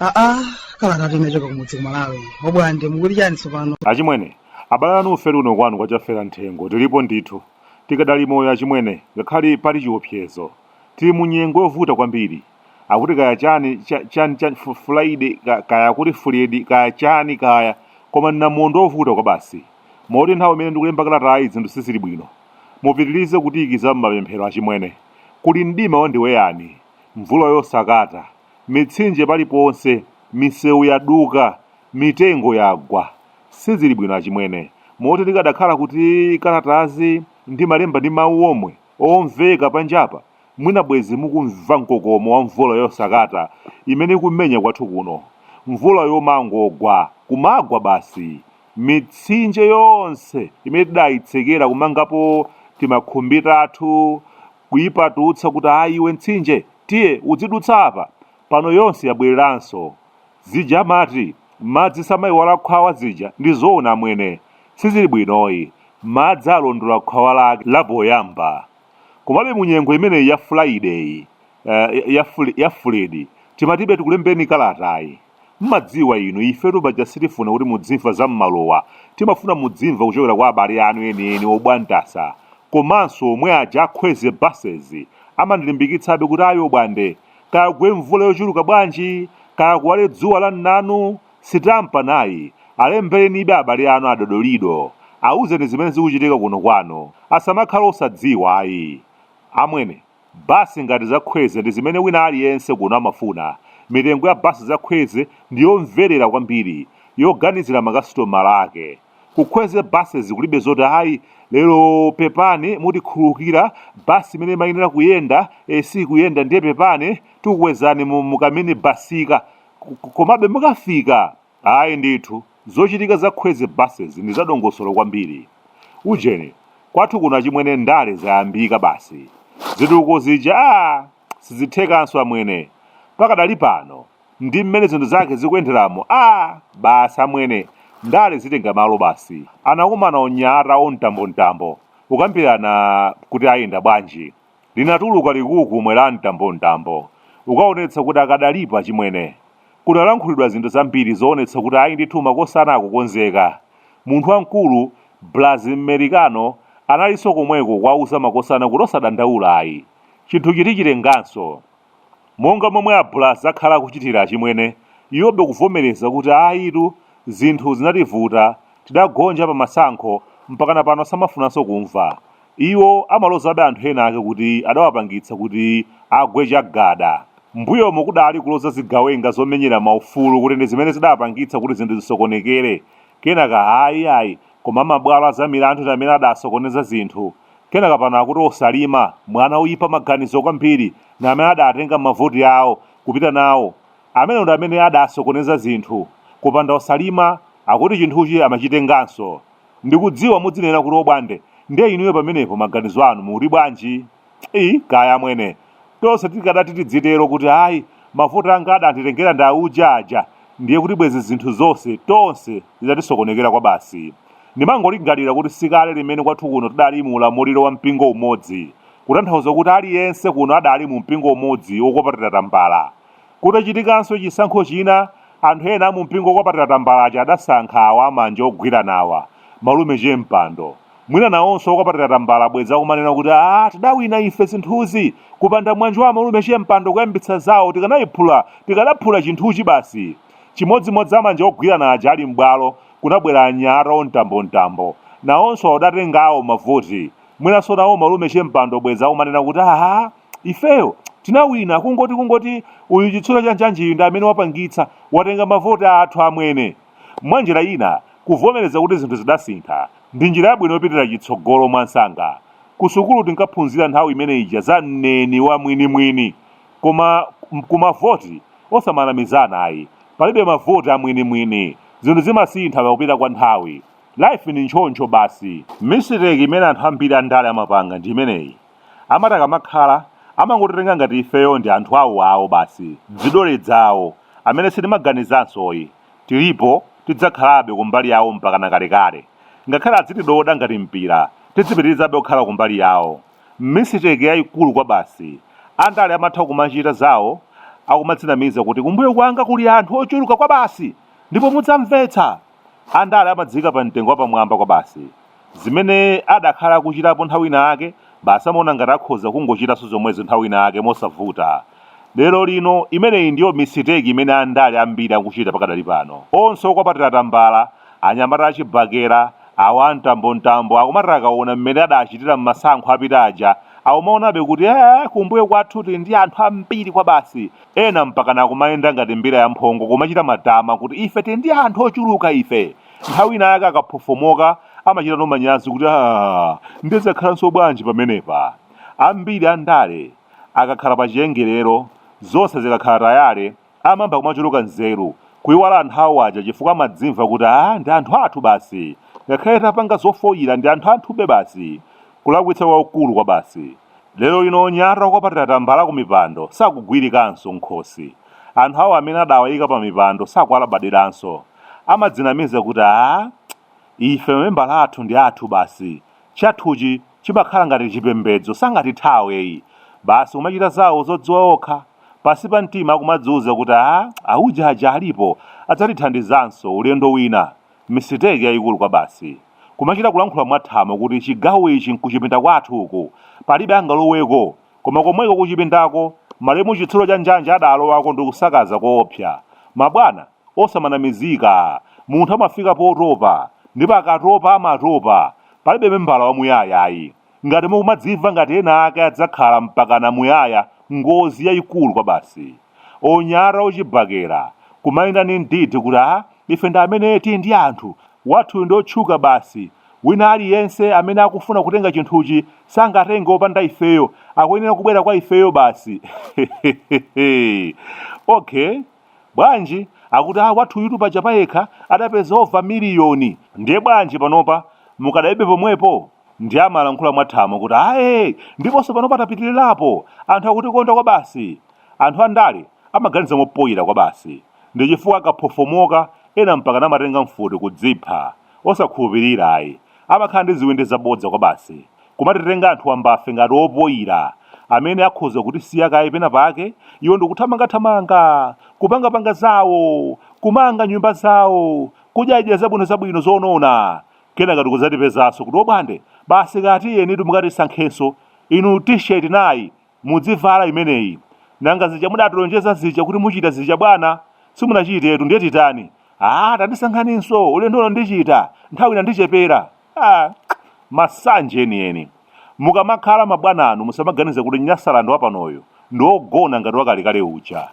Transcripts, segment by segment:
aa kalatayi imachoka kumudzi ku Malawi obwande mukuti chani tsopano achimwene abale anu ufere uno kwanu kwachafera nthengo tilipo ndithu tikadali moyo achimwene ngakhale pali chiopsezo tili mu nyengo yovuta kwambiri akuti kaya chani cha- chani chani fu- fulaide ka- kaya akuti fuledi kaya chani kaya koma namondwe ovuta kwabasi moti nthawi imene ndikulemba kalatayi zinthu sizili bwino mupitirize kutiyikiza m'mapemphero achimwene kuli mdima wandiweyani mvula yosakata mitsinje paliponse misewu yaduka mitengo yagwa sizili bwino achimwene moti tikadakhala kuti kalatazi ndimalemba ndi mawu omwe omveka panjapa Mwina bwezi mukumva mkokomo wa mvula yosakata imene ikumenya kwathu kuno. Mvula yomangogwa, kumagwa basi. Mitsinje yonse imene tidayitsekera kumangapo timakhumbi tathu, kuyipatutsa kuti ayi iwe mtsinje, tiye udzidutsa apa, pano yonse yabwereranso. Zija amati, madzi samayiwala khwawa zija ndi zoona amwene. Sizili bwinoyi. Madzi alondola khwawa lake lapoyamba. Komabe mu nyengo imeneyi ya fulayideyi, uh, ya, fuli, ya fuledi, timatibe tikulembeni kalatayi. Mmadziwa inu, ifetu paja sitifuna kuti mudzimva za m'maluwa. Timafuna mudzimva kuchokera kwa abale anu enieni obwantasa. Komanso omwe aja a Kwezy Buses amandilimbikitsabe kuti ayi obwande. Kaya kugwe mvula yochuluka bwanji, kaya kuwale dzuwa la mnanu, Sitampa nayi, alemberenibe abale anu a Dodolido, auzeni zimene zikuchitika kuno kwanu, asamakhale osadziwa ayi. Amwene, basi ngati za Kwezy ndi zimene wina aliyense kuno amafuna, mitengo ya basi za Kwezy ndi yomverera kwambiri, yoganizira makasitomala ake. Ku Kwezy Buses kulibe zoti ayi lero pepani mutikhululukira basi imene imayenera kuyenda, eh, sikuyenda ndiye pepani tikukwezani mu, mu kaminibasika, Komabe mukafika, ayi ndithu, zochitika za Kwezy Buses ndi zadongosolo kwambiri. Ujeni, kwathu kuno achimwene ndale zayambika basi. Zitukuko zija aah sizithekanso amwene. Pakadali pano, ndi mmene zinthu zake zikuyenderamu aah basi amwene, ndale zitenga malo basi. Anakumana onyamata omtambomtambo kukambirana kuti ayenda bwanji. Linatuluka likukumwe la mtambomtambo, ukaonetsa kuti akadalipo achimwene. Kunalankhulidwa zinthu zambiri zoonetsa kuti ayi ndithu makosana akukonzeka. Munthu wamkulu, Braz M'merikano, analinso komweko kuwauza makosana kuti osadandaula ayi. Chinthuchi tichitenganso. Monga momwe a Braz akhala akuchitira achimwene, iwobe kuvomereza kuti ayitu zinthu zinativuta, tidagonja pa masankho, mpakana pano samafunanso kumva. Iwo amalozabe anthu enaake kuti adawapangitsa kuti agwe chagada. Mmbuyomo kudali kuloza zigawenga zomenyera maufulu kuti ndi zimene zidapangitsa kuti zinthu zisokonekere. Kenaka ayi, iyayi, koma amabwalo a zamilandu ndi amene adasokoneza zinthu. Kenaka pano akuti Osalima, mwana oyipa maganizo kwambiri, ndi amene adatenga mavoti awo kupita nawo. Amenewo ndi amene adasokoneza zinthu. Kupanda Osalima, akuti chinthuchi amachitenganso. Ndikudziwa mudzinena kuti obwande ndiye inuyo pamenepo maganizo anu mukuti bwanji? ii kaya amwene. Tonse tikadati tidzitero kuti ayi mavoti anga adanditengera ndi auja aja ndiye kuti bwenzi zinthu zonse tonse zitatisokonekera kwabasi. Ndimangolingalira kuti sikale limene kwathu kuno tidali mu ulamuliro wa mpingo umodzi kutanthauza kuti aliyense kuno adali mu mpingo umodzi wokwapatira tambala. Kutachitikanso chisankho china, anthu ena a mumpingo wokwapatira tambala aja adasankha awa amanja ogwiranawa, Malume Chempando. Mwina nawonso okwapatira tambala bwenzi akumanena kuti, Aaa, tidawina ife zinthuzi! Kupanda mwanji wa Amalume Chempando kuyambitsa zawo, tikanaiphula, tikanaphula chinthuchi basi! Chimodzimodzi amanja ogwirana aja ali m'bwalo, kunabwera anyamata omtambomtambo. Nawonso adatenga awo mavoti. Mwinanso nawo Malume Chempando bwenzi akumanena kuti, Aaa! Ifeyo tinawina kungoti kungoti uyu chitsulo cha njanjiyu ndi amene wapangitsa, watenga mavoti athu amwene. Mwa njira ina, kuvomereza kuti zinthu zidasintha ndi njira yabwino yopitira chitsogolo mwansanga. Kusukulu tinkaphunzira nthawi imene ija za mneni wa mwini mwini. Koma ku mavoti osamanamizana ayi. Palibe mavoti a mwini mwini. Zinthu zimasintha pakupita kwa nthawi. Life ndi nchoncho basi. Mistake imene anthu ambiri andale amapanga ndi imeneyi. amati akamakhala amangotitenga ngati ifeyo ndi anthu awo awo basi dzidole dzawo amene sitimaganizanso ayi tilipo tidzakhalabe kumbali yawo mpakana kalekale ngakhale adzitidoda ngati mpira tidzipitirizabe kukhala kumbali yawo mistake yaikulu kwabasi andale amatha kumachita zawo akumadzinamiza kuti kumbuyo kwanga kuli anthu ochuluka kwabasi ndipo mudzamvetsa Andale amadziika pamtengo wapamwamba kwabasi. Zimene adakhala akuchitapo nthawi inayake, basi amaona ngati akhoza kungochitanso zomwezo nthawi inayake mosavuta. Lerolino, imeneyi ndiyo misiteki imene andale ambiri akuchita pakadali pano. Onse okwapatira tambala, anyamata achibakera, awa a mtambomtambo, akumati akaona mmene adaachitira m'masankho apita aja, akumaonabe kuti, Eee, kumbuyo kwathu tili ndi anthu ambiri kwabasi. ena mpakana akumayenda ngati mbira yamphongo kumachita matama kuti ife tili ndi anthu ochuluka ife nthawi ina yake akaphofomoka amachitano manyazi kuti aa ndiye zakhalanso bwanji pamenepa ambiri andale akakhala pa chiyengerero zonse zikakhala tayale amayamba kumachuluka nzeru kuiwala anthu awo aja chifukwa amadzimva kuti aa ndi anthu athu basi ngakhale tapanga zofoyira ndi anthu athube basi kulakwitsa kwakukulu kwa basi Lero lino onyada okwapatira tambala kumipando sakugwirikanso m'khosi. Anthu awo amene adawayika pamipando sakuwalabadiranso. Amadzinamiza kuti, Aaa! Ife mamembala athu ndi athu basi. Chathuchi chimakhala ngati chipembedzo, sangatithawe yi! Basi kumachita zawo zodziwa okha. Pansi pa mtima akumadziuza kuti, Aaa! Auje aja alipo, adzatithandizanso, ulendo wina. Misiteki yayikulu kwabasi. Kumachita kulankhula mwathamo kuti chigawo ichi nkuchipinda kwathu uku, palibe angaloweko, koma komweko kuchipindako, malemu Chitsulo Chanjanje adaalowako ndikusakaza koopsa. Mabwana, osamanamizika. Munthu amafika potopa, ndipo akatopa amatopa. Palibe membala wamuyaya ayi. Ngati mukumadzimva ngati ena ake adzakhala mpakana muyaya, ngozi yayikulu kwabasi. Onyada ochibakera, kumayenda ndi mdidi kuti a, ife ndi amene tili ndi anthu, wathuyu ndi otchuka basi, wina aliyense amene akufuna kutenga chinthuchi sangatenge opanda ifeyo, akuyenera kubwera kwa ifeyo basi, hehehehe! Okay. Bwanji, akuti, a, wathuyutu paja payekha adapeza over miliyoni. Ndiye bwanji panopa mukadalibe pomwepo? Ndiye amalankhula mwathamo kuti, aye, ndiponso panopa tapitirirapo. Anthu akutikonda kwabasi. Anthu andale amaganiza mopoira kwabasi. Ndi chifukwa akaphofomoka, ena mpakana amatenga mfuti kudzipha. osakhulupirira ayi, amakhala ndi ziwindi zabodza kwabasi, kumatitenga anthu wambafe ngati opoira, amene akhoza kutisiya kaye pena pake, iwo ndikuthamangathamanga, kupangapanga zawo, kumanga nyumba zawo, kudyadya zabwino zabwino zonona, kenaka ndikudzatipezanso kuti obwande, basi kaya tiyenitu mukatisankhenso, inu T-shirt nayi, Mudzivala imeneyi. Nanga zija mudatilonjeza zija kuti muchita zija bwana? Simunachitetu, ndiye titani? Aaa tandisankhaninso, ulendo uno ndichita, nthawi inandichepera. Aaa masanje enieni. Mukamakhala mabwananu musamaganize kuti Nyasaland wapanoyu ndi wogona ngati wakalekale uja.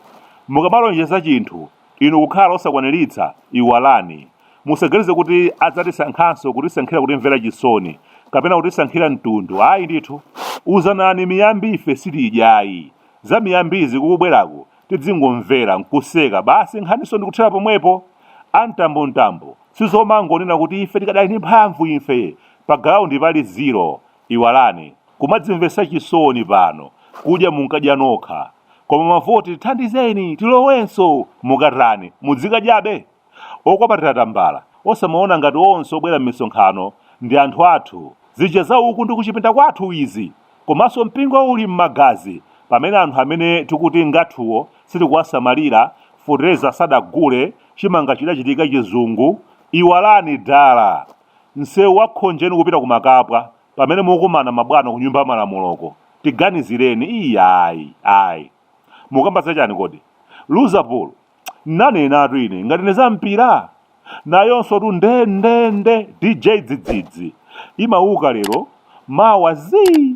Mukamalonjeza chinthu Inu kukhala osakwaniritsa, iwalani. Musaganize kuti adzatisankhanso kutisankhira kutimvera chisoni, kapena kutisankhira mtundu, ayi ndithu. Uzanani miyambi ife sitidya ayi. Za miyambizi kukubwerako tidzingomvera, nkuseka, basi nkhaninso ndikuthera pomwepo. A Mtambo Mtambo, sizomangonena kuti ife tikadali ndi mphamvu ife, pa galaundi pali zero. Iwalani kumadzimvesa chisoni pano kudya munkadya nokha koma mavoti tithandizeni tilowenso mukatani mudzikadyabe okwapatira tambala osamaona ngati onse obwera mmisonkhano ndi anthu athu zija za uku ndi kuchipinda kwathu izi komanso mpingo uli mmagazi pamene anthu amene tikuti ngathuwo sitikuwasamalira fertilizer sadagule chimanga chidachitika chizungu iwalani dala Msewu wa Khonjeni kupita ku Makapwa pamene mukumana mabwana ku nyumba ya malamuloko. Tiganizireni iyayi. Mukamba za chani kodi? Loserpool. Nnanenatu ine ngati nneza mpira. Nayonsotu nde nde dj dzidzidzi. Imawuka lero mawa zii.